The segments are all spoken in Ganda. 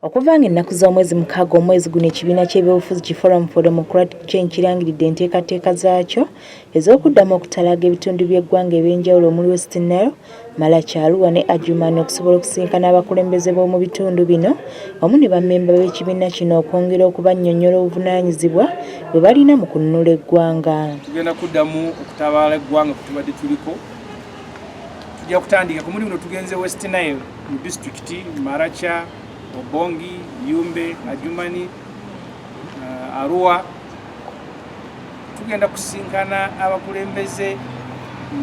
Okuva nga ennaku z'omwezi mukaaga omwezi guno ekibiina ky'ebyobufuzi ki Forum for Democratic Change kirangiridde enteekateeka zaakyo ez'okuddamu okutalaaga ebitundu by'eggwanga eby'enjawulo omuli West Nile, Malaki, Arua ne Adjumani okusobola okusisinkana abakulembeze b'omu bitundu bino wamu ne bammemba b'ekibiina kino okwongera okubannyonnyola obuvunaanyizibwa bwe balina mu kununula eggwanga. Tugenda kuddamu okutabaala eggwanga kwe tubadde tuliko. Tujja kutandika ku mulimu tugenze West Nile. mu disitulikiti Maracha, Obongi, Yumbe, Ajumani, uh, Arua tugenda kusinkana abakulembeze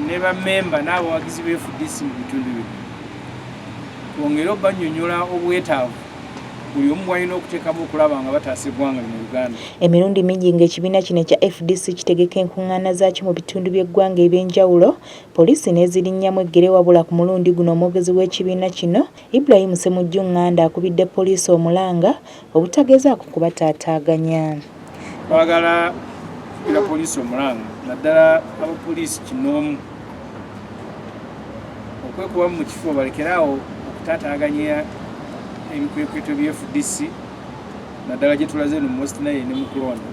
ne bamemba n'abawagizi be FDC mu bitundu bino twongere obanyonyola obwetaavu buli omu walina okuteekamu okulaba nga bataasa eggwanga lino uganda emirundi mingi ng'ekibiina kino ekya fdc kitegeka enkuŋŋaana zaakyo mu bitundu by'eggwanga eby'enjawulo poliisi n'ezirinnyamu eggere wabula ku mulundi guno omwogezi w'ekibiina kino Ibrahim Ssemujju Nganda akubidde poliisi omulanga obutagezaako kubataataaganya twagala kubira poliisi omulanga naddala abapoliisi kinoomu okwekubamu mu kifo balekere awo okutaataaganya ebikwekweto bye fdc naddala gye tulaze no mu west nile ne mu kulonda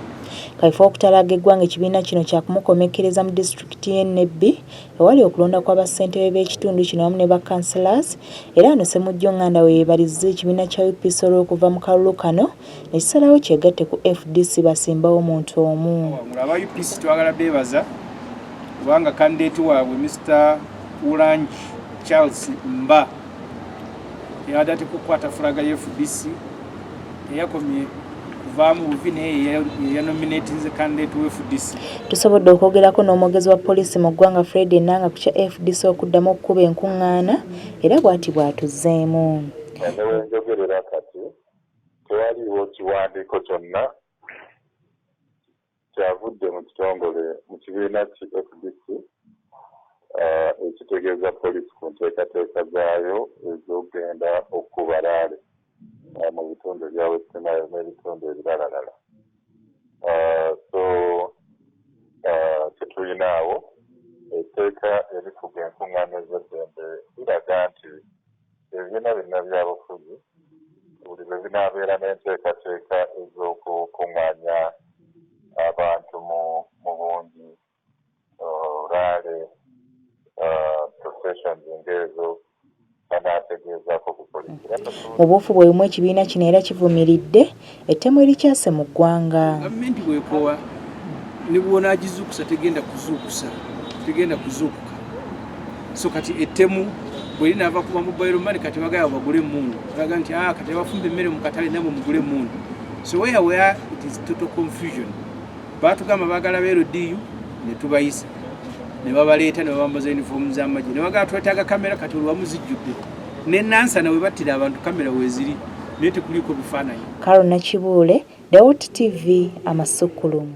kaifo okutalaaga eggwanga ekibiina kino kyakumukomekkereza mu disitulikiti disitulikiti y'e Nebbi ewali okulonda kwa bassentebe b'ekitundu kino wamu ne ba Councillors era wano Ssemujju Nganda we yeebalizza ekibiina kya UPC olw'okuva mu kalulu kano ne kisalawo kyegatte ku fdc basimbewo omuntu omu. Aba UPC twagala beebaza kubanga kandideeti waabwe Mister Ulangi Charles Mba yabadde atekukwata fulaga ya fdc teyakomye kuvaamu buvi naye yeyanominatinze candidate we fdc tusobodde okwogerako n'omwogezi wa poliisi mu ggwanga fred enanga ku kya fdc okuddamu okukuba enkuŋŋaana era bw'ati bw'atuzzeemu newenjogerera kati tewaliiwo kiwandiiko kyonna Kyavudde mu kitongole mu kibiina ki fdc ekitegeeza poliisi ku nteekateeka zaayo ez'ogenda okukuba laale mu bitundu ebya West Nile n'ebitundu ebiralalala so tetulinaawo etteeka erifuga enkung'aana ez'eddembe liraga nti Ebibiina byonna byabufuzi buli lwe binaabeera n'enteekateeka ez'okukung'aanya abantu mu bungi, raale, processions ng'ezo, banaategeezaako ku poliisi. Mu buufu bwe bumu ekibiina kino era kivumiridde Ettemu erikyase mu ggwanga. Gavumenti bwekoowa ne bwonaagizuukusa tegenda kuzuukusa tegenda kuzuukuka so kati ettemu bwe linaava kuba mobile money kati bagala bagule emmundu olaga nti ah, kati abafumba emmere mu katale namwe mugule emmundu so where where it is total confusion baatugamba baagala ba ldu ne tubayisa ne babaleeta ne babambaza uniform z'amagye ne bagala twetaaga kamera kati olwamu zijjudde ne nansana we battira abantu kamera weeziri naye tekuliiko bifaananyi. Carol Nakibuule, Dawuti TV, Amasukkulumu.